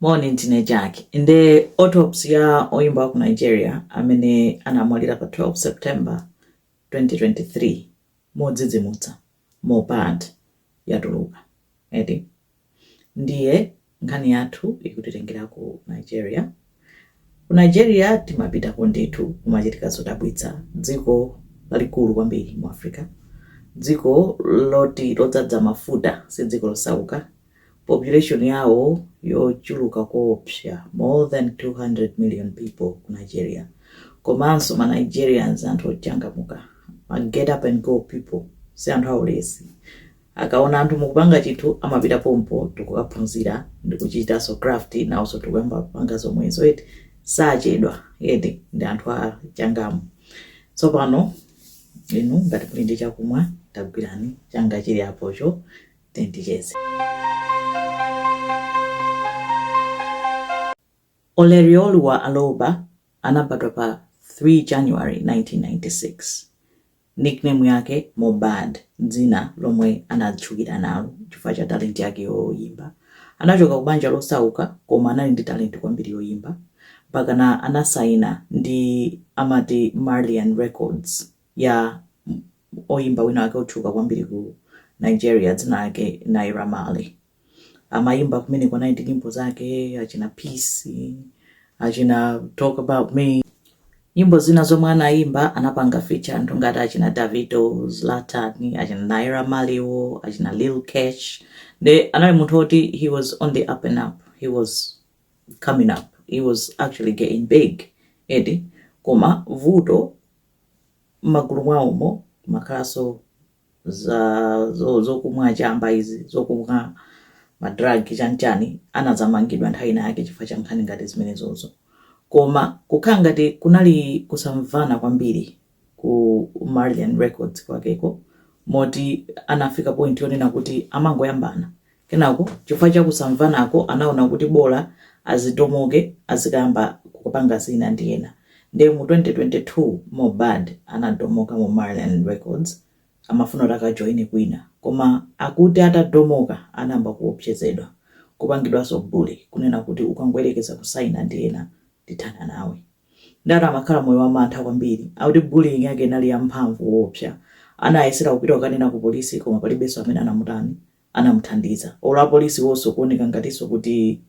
Moni ndine Jack. Nde autopsy ya oyimba wa ku Nigeria amene anamwalira pa 12 September 2023 modzidzimutsa Mohbad yatuluka eti. Ndiye nkhani yathu ikutitengera ku Nigeria Ku Nigeria timapitako ndithu, kumachitika zodabwitsa. Dziko lalikulu kwambiri mu Africa, dziko loti lodzadza mafuta, si dziko losauka. Population yawo yochuluka koopsa, more than 200 million people ku Nigeria. Komanso ma Nigerians anthu ochangamuka, ma get up and go people, si anthu aulesi. Akaona anthu mukupanga chinthu amapita pompo n'kukaphunzira ndikuchitanso craft nawonso n'kuyamba kupanga zomwezo eti sachedwa eti ndi anthu achangamu tsopano inu ngati muli ndi chakumwa tagwirani changa chili apocho tizicheza Ilerioluwa Aloba anabadwa pa 3 January 1996 nickname yake Mohbad, dzina lomwe anatchukira nalo chifukwa cha talent yake yoyimba. Anachoka ku banja losauka koma anali ndi talent kwambiri yoyimba mpakana anasaina ndi amati Marlian Records ya oyimba wina wake otchuka kwambiri ku Nigeria dzina lake Naira Marley. amayimba kumeneko anali ndi nyimbo zake achina peace achina talk about me nyimbo zina zomwe anayimba anapanga feature anthu ngati achina Davido Zlatan achina Naira Marley-wo achina Lil Kesh nde anali munthu oti he was on the up and up he was coming up he was actually getting big eti koma vuto Mmagulu mwawomo mumakhalanso za zokumwa chamba izi zokumwa ma drug chani chani anadzamangidwa nthawi ina yake chifukwa cha nkhani ngati zimenezozo koma kukhala ngati kunali kusamvana kwambiri ku Marlian Records kwakeko moti anafika point yonena kuti amangoyambana Kenako chifukwa cha kusamvanako anaona kuti bola azidomoke azikayamba kupanga zina ndi ena nde mu 2022 Mohbad anadomoka mu Marlian records amafuna kuti akajoine kwina koma akuti atadomoka anayamba kuopsezedwa kupangidwanso bully kunena kuti ukangoyerekeza kusaina ndi ena ndithana nawe nde ati amakhala moyo wa mantha kwambiri akuti bullying yake inali yamphamvu koopsa anayesera kupita kukanena ku police koma palibenso amene anamutani anamuthandiza or apolisiwoso kuoneka ngatiso kuti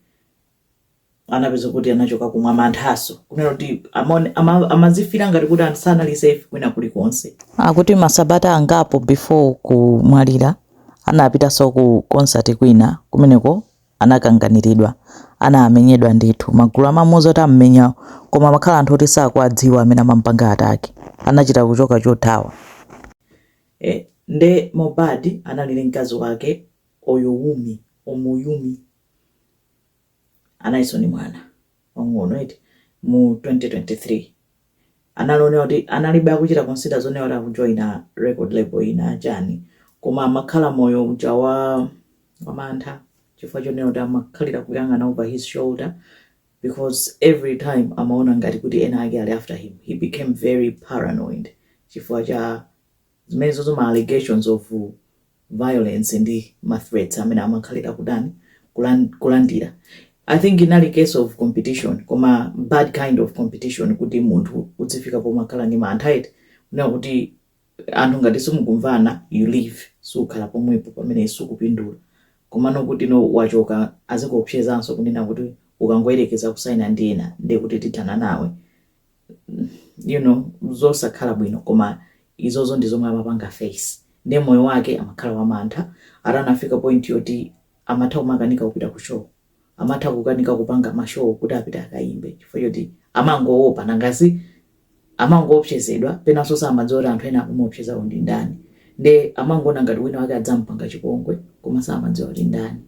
anapeza kuti anachokako mwamanthaso kunena kuti amaone- ama- amazifira ngati kuti anthu sanali safe kwina kulikonse akuti masabata angapo before kumwalira anapitaso ku concert kwina kumeneko anakanganiridwa anamenyedwa ndithu magulu amamuuza kuti amumenya koma amakhala anthu oti sakuwadziwa amene amampanga atake anachita kuchoka chothawa Eh nde Mohbad anali ndi mkazi wake Owumi, Omowunmi, analiso ndi mwana wang'ono eti mu 2023 analinso onena kuti analibe akuchita consider zonena kuti akujoina record label ina chani koma amakhala moyo uja wa wamantha chifukwa chonena kuti amakhalira kuyang'ana over his shoulder because every time amaona ngati kuti ena ake ali after him he became very paranoid chifukwa cha zimenezo ma allegations of violence ndi ma threats amene amakhalira kudani kulan- kulandira i think inali case of competition koma bad kind of competition kuti munthu udzifika pomakhala ndi mantha eti kunena kuti anthu ngati simukumvana you leave sukhala pomwepo pamene sukupindula komano kuti no wachoka azikuopsezanso kunena kuti ukangoyerekeza kusaina ndi ena ndiye kuti tithana nawe you know zosakhala bwino koma izozo ndi zomwe amapanga face ndiye moyo wake amakhala wamantha atanafika point yoti amatha kumakanika kupita ku show amatha kukanika kupanga ma show kuti apite akayimbe chifukwa choti amangowopa nanga si amangoopsezedwa penanso samadziwa kuti anthu amene akumuopsezawo ndi ndani nde amangoona ngati wina wake adzamupanga chipongwe koma samadziwa kuti ndani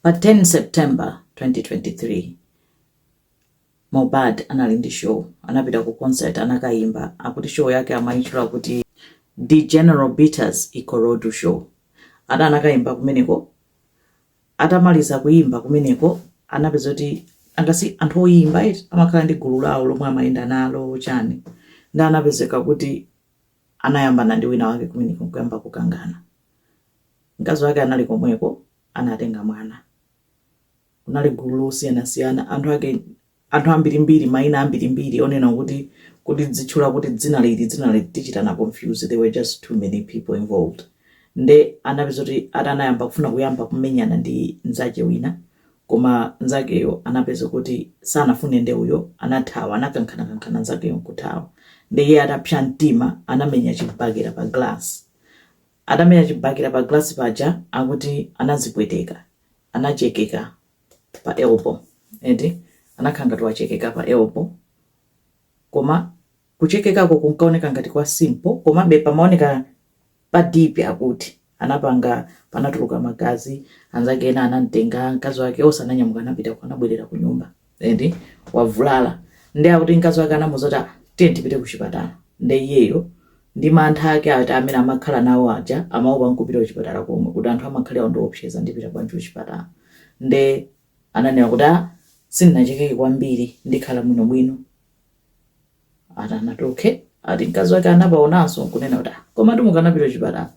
pa 10 September 2023 Mohbad anali ndi show anapita ku concert anakayimba akuti show yake amayitchula kuti D'General Bitters Ikorodu show ati anakayimba kumeneko Atamaliza kuyimba kumeneko anapezeka kuti nanga si anthu oyimba eti amakhala ndi gulu lawo lomwe amayenda nalo chani nde anapezeka kuti anayambana ndi wina wake kumeneko nkuyamba kukangana mkazi wake anali komweko anatenga mwana kunali gulu losiyanasiyana anthu ake Anthu ambirimbiri, maina ambirimbiri onena kuti kuti ndizitchula kuti dzina liti dzina liti tichitana confuse there were just too many people involved nde anapezeka kuti ati anayamba kufuna kuyamba kumenyana ndi nzake wina koma nzakeyo anapezeka kuti sanafune nde uyo anathawa anakankhanakankhana nzakeyo nkuthawa nde iye atapsa mtima anamenya chibakera pa glass atamenya chibakera pa glass paja akuti anazipweteka anachekeka pa elbow eti anakhala ngati wachekeka pa elbow koma kuchekekako kunkaoneka ngati kwa simple komabe pamaoneka pa deep akuti anapanga panatuluka magazi anzake ena anamtenga mkazi wake onse ananyamuka anapita kwa anabwerera ku nyumba eti wavulala nde akuti mkazi wake anamuza kuti "Ah, tiye tipite ku chipatala nde iyeyo Ndi mantha ake ati amene amakhala nawo aja amaopa nkupita kuchipatala komwe kuti anthu amakhalira kundiopseza ndipita bwanji kuchipatala nde ananena kuti ah sindinachekeke kwambiri ndikhala bwino bwino ati anati okay ati mkazi wake anapaonanso nkunena kuti ah komatu mukanapita kuchipatala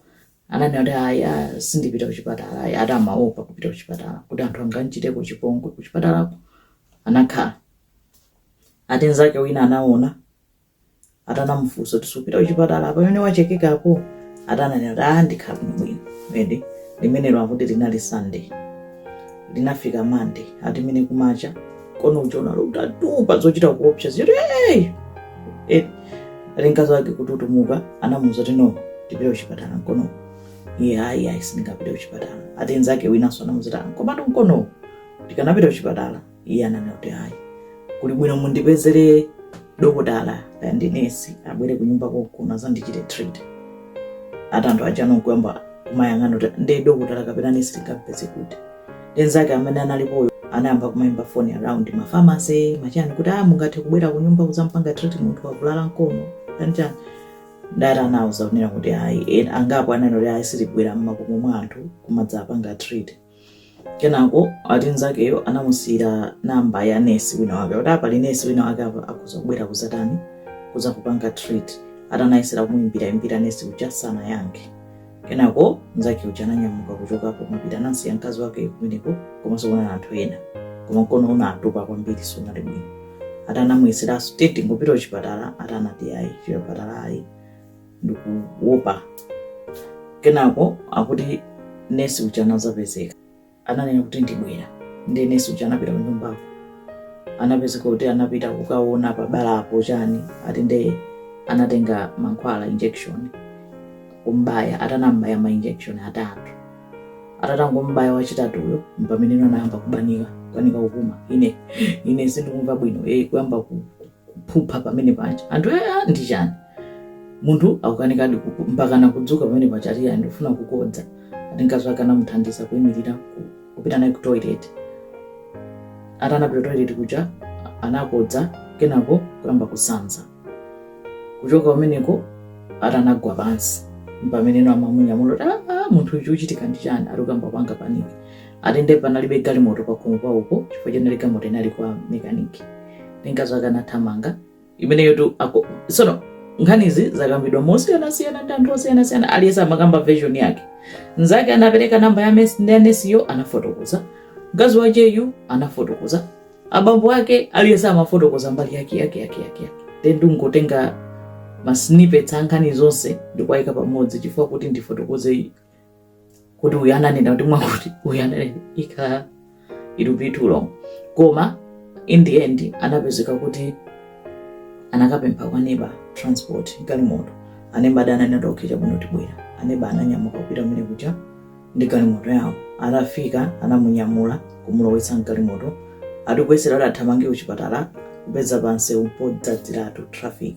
ananena kuti ayi ah, sindipita kuchipatala ayi ati amaopa kupita kuchipatala kuti anthu angamchiteko chipongwe kuchipatalako anakhala ati nzake wina anaona ati anamufunsa kuti supita kuchipatala pamene wachekekapo ati ananena kuti ah ndikhala bwino eti limenelo akuti linali sunday linafika monday ati mene kumacha mkono ujatu utatupa zochita kuopsa zedi hey! eti ati mkazi wake kututumuka anamuuza kuti no tipite kuchipatala mkono iye ayi ayi sindingapite kuchipatala ati nzake winanso anamuuza kuti "Ah, komatu mkono tikanapita kuchipatala iye ananena kuti ayi kuli bwino mundipezere dokotala kaya ndi nesi abwere kunyumba konkuno azandichite treat ati anthu aja nkuyamba kumayang'ana kuti ndi dokotala kapena nesi tingampeze kuti ati nzake amene analipoyo anayamba kumayimba foni around mafamase machani kuti a mungathe kubwera kunyumba kuzampanga treat munthu wavulala mkono kanjani nde ati anawuza kunena kuti ayi ena angapo ananena kuti ayi sitibwera mmakomo mwa anthu kumadzapanga treat kenako ati nzakeyo anamusiyira namba ya nesi wina wake kuti apa ali nesi wina wake apa akhoza kubwera kuzatani kuza kupanga treat ati anayesera kumuimbira imbira nesi uja sanayankhe kenako nzake uja ananyamuka kuchokapo kumapita anasiya mkazi wake kumeneko komanso kuna anthu ena koma mkono unatupa kwambiri sunali bwino ati anamuyeseraso kuti tingopita kuchipatala ati anati ayi chipatala ayi ndikuopa kenako akuti nesi uja anazapezeka ananena kuti ndibwera nde nesi uja anapita kunyumbako anapezeka kuti anapita kukaona pabalapo chani ati nde anatenga mankhwala injection kumbaya atanambaya ma injection atatu atatangombaya wachitatuyo mpameneno anayamba kubanika kubanika kupuma ine ine sindikumva bwino e kuyamba ku- kuphupha pamene paja anthu ea ndi chani munthu akukanika kuku- mpakana kudzuka pamene paja ati "Ayi, ndikufuna kukodza ati mkazi wake anamuthandiza kuyimirira ku- kupita naye ku toilet ati anapita toilet kuja anakodza kenako kuyamba kusanza kuchoka pameneko ati anagwa pansi mpameneno amamunyamula kuti "Ah, ah, munthu uyu uchitika ndi chani ati ukamba panga paniki ati nde panalibe galimoto pakhomopo chifukwa chenali galimoto inali kwa mekaniki ndi mkazi wake anathamanga imeneyotu ako- sono nkhanizi zakambidwa mosiyanasiyana ndi anthu osiyanasiyana aliyense amakamba version yake mnzake anapereka namba ya nesiyo anafotokoza mkazi wakeyu anafotokoza abambo ake aliyense amafotokoza mbali yake yake yake yake yake then ndingotenga masnippets a nkhani zonse ndikuwayika pamodzi chifukwa kuti ndifotokoze kuti uyu ananena kuti mwakuti uyu ananena ikhala it will be too long koma in the end anapezeka kuti anakapempha kwa neba transport galimoto aneba aja ananena kuti okay chabwino tibwera aneba ananyamuka kupita kumene kuja ndi galimoto yawo atafika anamunyamula kumulowetsa mgalimoto atikuyesera kuti athamange kuchipatala kupeza pansewu podzadziratu traffic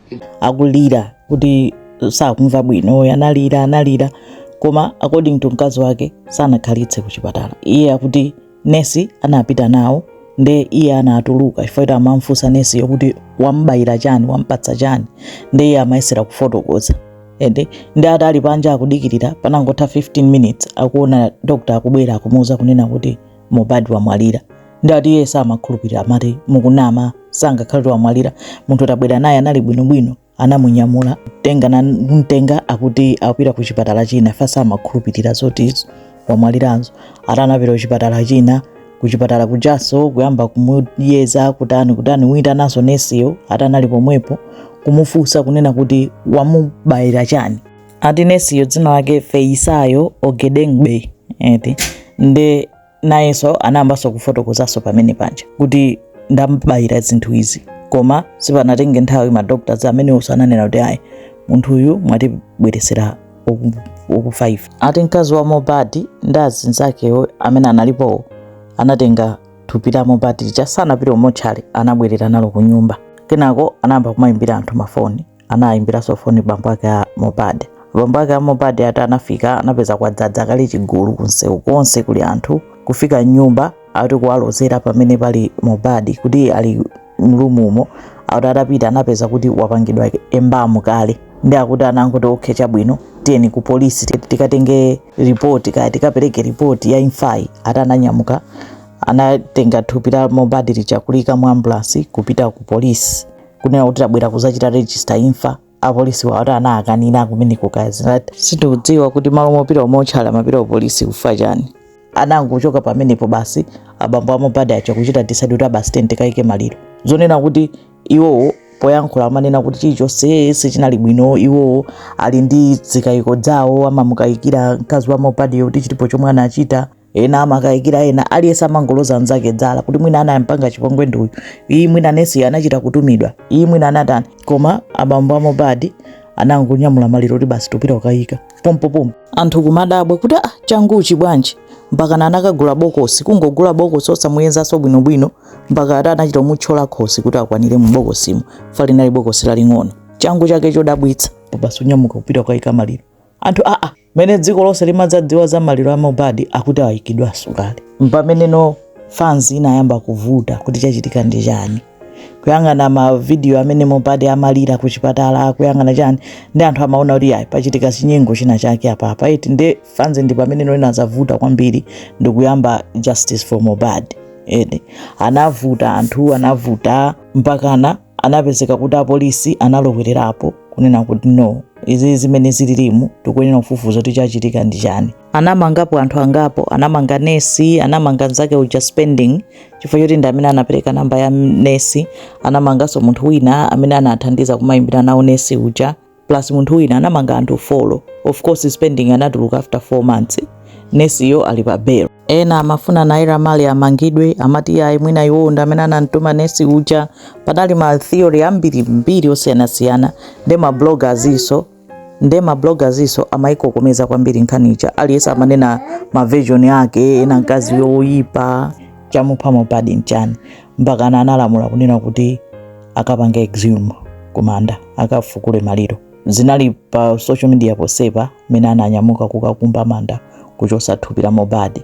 akulira kuti sakumva bwino analira analira koma according to mkazi wake sanakhalitse kuchipatala iye akuti nesi anapita nawo nde iye anatuluka chifukwa kuti amamfunsa nesiyo kuti wambayira chani wampatsa chani nde iye amayesera kufotokoza ende ndi ati ali panja akudikirira panangotha 15 minutes akuona doctor akubwera akumuuza kunena kuti Mohbad wamwalira ndati iye samakhulupirira amati mukunama sangakhale wamwalira munthu tabwera naye anali bwinobwino anamunyamula mtenga na mtenga akuti akupita ku chipatala china chifukwa samakhulupirira zoti wamwalirazo ati anapita ku chipatala china ku chipatala kujaso kuyamba kumuyeza kutani kutani kuitananso nesiyo ati anali pomwepo kumufunsa kunena kuti wamubayira chani ati nesiyo dzina lake Feyisayo Ogedengbe eti nde nayenso anayambanso kufotokozanso pamene paja kuti ndambayira zinthu izi koma sipanatenge nthawi madoctors ameneonso ananena kuti ayi munthu uyu mwatibweresera okufa ati mkazi wa Mohbad ndi azinzakewo amene analipowo anatenga thupi la Mohbad lija sanapite kumotchale anabwerera nalo ku nyumba kenako anayamba kumayimbira anthu mafoni anayimbiranso foni bambo ake a Mohbad. Bambo ake a Mohbad ati anafika anapeza kwadzadza kale chigulu kunsewu konse kuli anthu kufika nyumba ati kuwalozera pamene pali Mohbad kuti ali m'rumumo akuti atapita anapeza kuti wapangidwa embalm kale nde akuti anangoti okay chabwino tiyeni ku polisi tikatenge ripoti kaya tikapereke ripoti ya imfayi ati ananyamuka anatenga thupi la Mohbad lija kuliika mu ambulansi kupita ku polisi kunena kuti tabwera kuzachita register imfa apolisiwo ati anakanira kumene kukazi nati sindikudziwa kuti m'malo mopita umotchale amapita upolisi chifukwa chani anangochoka pamenepo basi abambo a Mohbad aja kuchita decide kuti ah basi tiyeni tikaike maliro zonena kuti iwowo poyankhula amanena kuti chilichonse sichinali bwino iwowo ali ndi zikayiko zawo amamukayikira mkazi wa Mohbadyo kuti chilipo chomwe anachita ena amakayikira ena aliyense amangoloza anzake dzala kuti mwina anampanga chipongwe ndi uyu ayi mwina nesi anachita kutumidwa ayi mwina anatani koma abambo a Mohbad anangonyamula maliro kuti basi tupita ukayika pompopompo anthu kumadabwa kuti ah changuchi bwanji mpaka anakagula bokosi kungogula bokosi osamuyezanso bwinobwino mpaka ati anachita kumutchola khosi kuti akwanire mu bokosimo chifukwa linali bokosi laling'ono changu chake chodabwitsa basi unyamuka kupita ukayika maliro anthu aa ah, ah. mene dziko lonse limadzadziwa za maliro a Mohbad akuti ayikidwanso kale mpameneno fans inayamba kuvuta kuti chachitika ndi chani kuyang'ana mavidiyo amene Mohbad amalira ku chipatala kuyang'ana chani nde anthu amaona kuti ayi pachitika chinyengo china chake apapa eti nde fans ndi pameneno inazavuta kwambiri ndi kuyamba justice for Mohbad nde anavuta anthu anavuta mpakana anapezeka kuti apolisi analowererapo kunena kuti no izi zimene zililimu tikuyenera kufufuza kuti chachitika ndi chani anamangapo anthu angapo anamanga nesi anamanga nzake uja Spending chifukwa choti ndi amene anapereka namba ya nesi anamanganso munthu wina amene anathandiza kumayimbira nawo nesi uja plus munthu wina anamanga anthu folo of course Spending anatuluka after 4 months nesiyo ali pa bail ena amafuna Naira Marley amangidwe amati iyayi mwina iwowo ndi amene anamtuma nesi uja panali ma theory ambirimbiri osiyanasiyana nde ma bloggersnso nde ma bloggersnso amayikokomeza kwambiri nkhani ija aliyense amanena ma version ake ena mkazi yoyipa chamupha Mohbad nchani mpakana analamula kunena kuti akapange exhume kumanda akafukule maliro zinali pa social media ponsepa mene ananyamuka kukakumba manda kuchosa thupi la Mohbad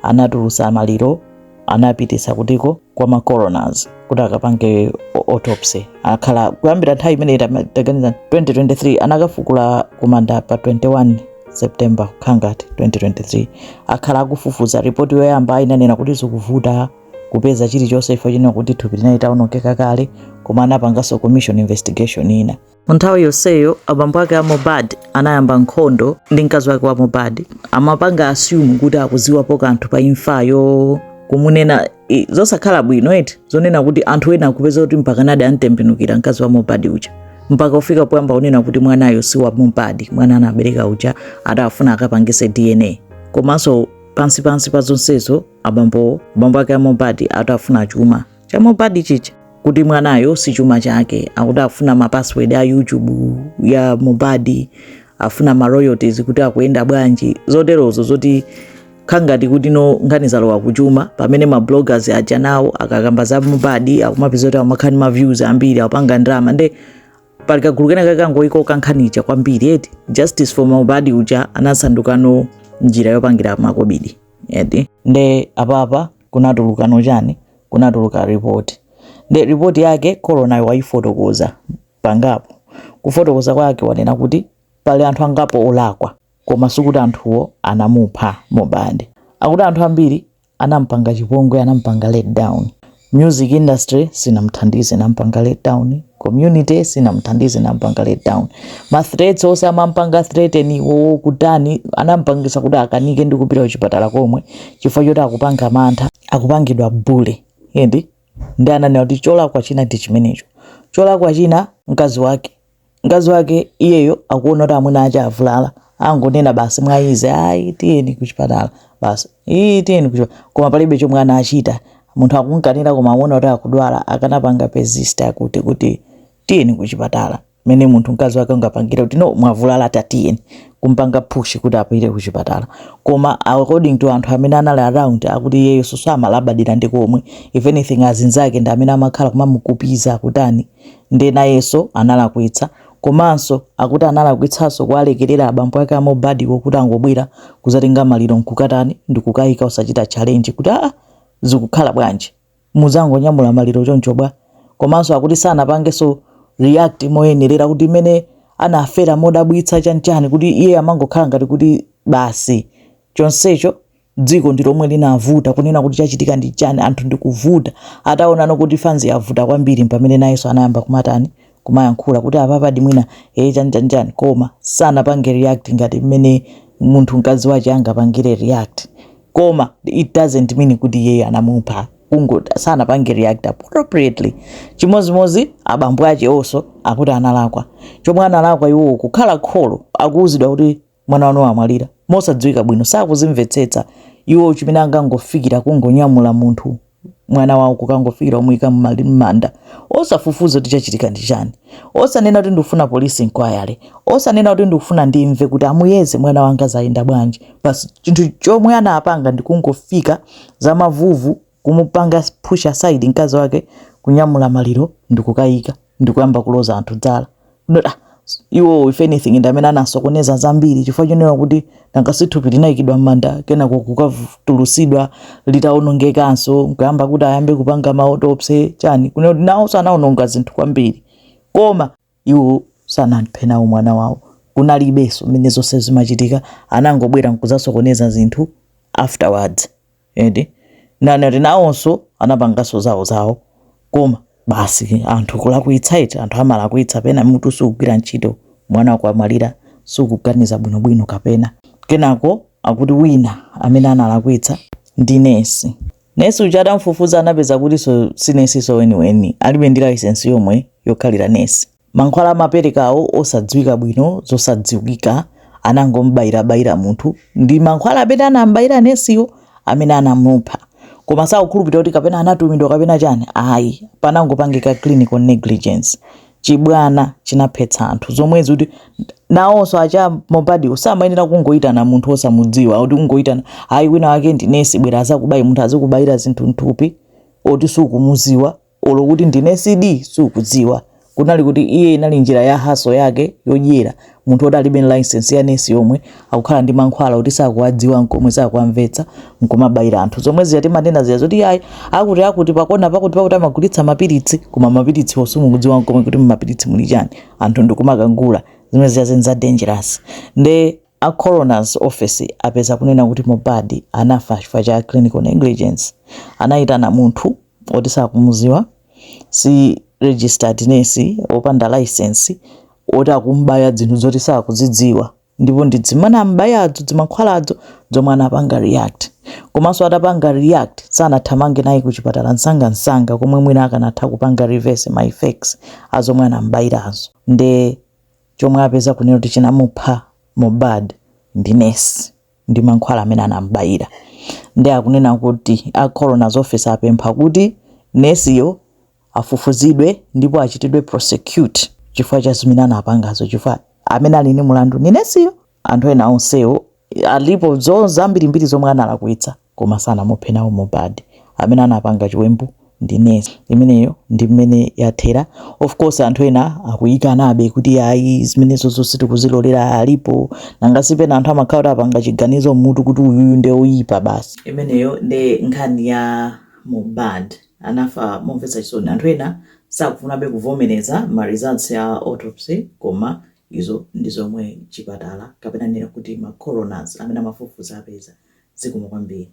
anatulusa maliro anapitisa kutiko kwa ma coroners kuti akapange autopsy akhala kuyambira nthawi imene taganiza 2023 anakafukula kumanda pa 21 september khangati 2023 akhala akufufuza ripoti yoyamba inanena kuti zikuvuta kupeza chilichonse chifukwa chonena kuti thupi linali litawonongeka kale koma anapanganso commission investigation ina nthawi yonseyo abambo ake a Mohbad anayamba nkhondo ndi mkazi wake wa Mohbad amapanga assume kuti akuziwapo kanthu pa imfayo kumunena i- zosakhala bwino eti zonena kuti anthu ena akupeza kuti mpakanadi antembenukira mkazi wa Mohbad uja mpaka kufika poyamba kunena kuti mwanayo si wa Mohbad mwana anabereka uja adafuna akapangise DNA komanso pansi pansi pa zonsezo abambowo abambo ake a Mohbad ati afuna chuma cha Mohbad chija kuti mwanayo si chuma chake akuti afuna ma password a YouTube ya Mohbad afuna ma royalties kuti akuyenda bwanji zoterozo zoti kukhala ngati kuti no nkhani zalowa kuchuma pamene ma bloggers aja nawo akakamba za Mohbad akumapeza kuti amakhala ndi ma views ambiri akupanga ndalama nde pali kagulu kena kakangoikoka nkhani ija kwambiri eti justice for Mohbad uja anasandukano njira yopangira makobidi eti nde apapa kunatulukano chani kunatuluka report nde report yake coroner yo wayifotokoza pangapo kufotokoza kwake wanena kuti pali anthu angapo olakwa koma sikuti anthuwo anamupha Mohbad akuti anthu ambiri anampanga chipongwe anampanga let down Music industry sinamuthandize nampanga let down, community sinamuthandize nampanga let down, ma threats onse amampanga threaten wo kutani anampangisa kuti akanike ndi kupita kuchipatala komwe chifukwa choti akupanga mantha akupangidwa bully eti nde ananena kuti cholakwa china ndi chimenecho cholakwa china mkazi wake mkazi wake iyeyo akuona kuti amuna ache avulala angonena basi mwaizi ayi tiyeni kuchipatala basi iyi tiyeni kuchipatala koma palibe chomwe anachita munthu akunkanira koma akuona kuti akudwala akanapanga persist akuti kuti tiyeni kuchipatala mene munthu mkazi wake ungapangira kuti no mwavulala tatiyeni kumpanga push kuti apite kuchipatala koma according to anthu amene anali around akuti iyeyo so samalabadira ndi komwe if anything azinzake ndi amene amakhala kumamukupiza akutani Ndiye nayenso analakwitsa komanso akuti analakwitsanso kuwalekerera abambo ake a Mohbad wo kuti angobwera kuzatenga maliro nkukatani ndikukayika osachita challenge kuti aa zikukhala bwanji mudzangonyamula maliro choncho bwa? Komanso akuti sanapangenso react moyenerera kuti mene anafera modabwitsa chani chani kuti iye amangokhala ngati kuti basi chonsecho dziko ndi lomwe linavuta kunena kuti chachitika ndi chani anthu ndikuvuta ataonano kuti fans yavuta kwambiri mpamene nayenso anayamba kumatani kumayankhula kuti apapa ndi mwina ee chani chani chani koma sanapange react ngati mmene munthu mkazi wache angapangire react koma it doesn't mean kuti iyeyo anamupha kungoti sanapange react appropriately chimodzimodzi abambo ache onso akuti analakwa chomwe analakwa iwowo kukhala kholo akuuzidwa kuti mwana wanu wamwalira mosadziwika bwino sakuzimvetsetsa iwo chimene angangofikira kungonyamula munthu mwana wawo kukangofikira omuyika mmanda osafufuza kuti chachitika ndi chani osanena kuti ndikufuna police inquiry osanena kuti ndikufuna ndimve kuti amuyeze mwana wanga zayenda bwanji basi chinthu chomwe anapanga ndikungofika za mavuvu kumupanga push aside mkazi wake kunyamula maliro ndikukayika ndikuyamba kuloza anthu dzala iwo if anything ndi amene anasokoneza zambiri chifukwa chonena kuti nanga si thupi linayikidwa m'manda kenako kukatulusidwa litawonongekanso nkuyamba kuti ayambe kupanga ma autopsy chani kunena kuti nawonso anawononga zinthu kwambiri koma Iwo sanaphe nawo mwana wawo, kunalibenso mmene zonse zimachitika, anangobwera nkuzasokoneza zinthu afterwards eti nanati nawonso anapanganso zawo zawo koma basi anthu kulakwitsa eti anthu amalakwitsa pena mutu sukugwira ntchito mwana wako wamwalira sukuganiza bwinobwino kapena kenako akuti wina amene analakwitsa ndi nesi Nesi uja atamfufuza anapeza kutinso sinesinso weniweni alibe ndi layisensi yomwe yokhalira nesi. Mankhwala amaperekawo osadziwika bwino zosadziwika anangombayirabayira munthu ndi mankhwala amene anambayira nesiyo ndi amene anamupha koma sakukhulupirira kuti kapena anatumidwa kapena chani ayi panangopangika clinical negligence chibwana chinaphetsa anthu zomwezi kuti nawonso a che Mohbad iwo samayenera kungoyitana munthu osamudziwa kuti kungoyitana ayi winawake ndi nesi bwera azakubaye munthu azikubayira zinthu mthupi oti sukumuziwa olo kuti ndi nesidi sukudziwa kunali kuti iye inali njira ya haso yake yodyera Munthu woti alibe license ya nesi yomwe akukhala ndi mankhwala oti sakuwadziwa nkomwe sakuwamvetsa nkumabayira anthu zomwe zija timanena zija zoti yayi akuti akuti pakona pakuti pakuti amagulitsa mapiritsi koma mapiritsi osamukudziwa nkomwe kuti mmapiritsi muli chani anthu ndikumakagula zimene zija n'za dangerous nde a coroner's office apeza kunena kuti Mohbad anafa chifukwa cha clinical negligence anayitana munthu oti sakumuziwa si registered nesi opanda license oti akum'baya dzinthu zoti sakuzidziwa ndipo ndi dzimene am'bayadzo dzimankhwaladzo dzomwe anapanga react komanso atapanga react sanathamange naye ku chipatala msangamsanga komwe mwina akanatha kupanga reverse ma effects a zomwe anam'bayirazo nde chomwe apeza kunena kuti chinamupha Mohbad ndi nesi ndi mankhwala amene anam'bayira nde akunena kuti a coroner's office apempha kuti nesiyo afufuzidwe ndipo achitidwe prosecute chifukwa cha zimene anapangazo chifukwa amene ali ni mulandu ni nesiyo anthu ena onsewo alipo zambirimbiri zomwe analakwitsa koma sanamuphe nawo Mohbad amene anapanga chiwembu ndi nesi imeneyo ndi mmene yathera of course anthu ena akukanabe kuti ayi zimenezo zonse tikuzilolera alipo nanga si pena anthu amakhala kuti apanga chiganizo mmutu kuti uyuyu nde oyipa basi imeneyo nde nkhani ya Mohbad anafa momvetsa chisoni. Anthu ena sakufunabe kuvomereza ma results a autopsy koma izo ndi zomwe chipatala kapena ndinene kuti ma coroners amene amafufuza apeza. Zikomo kwambiri.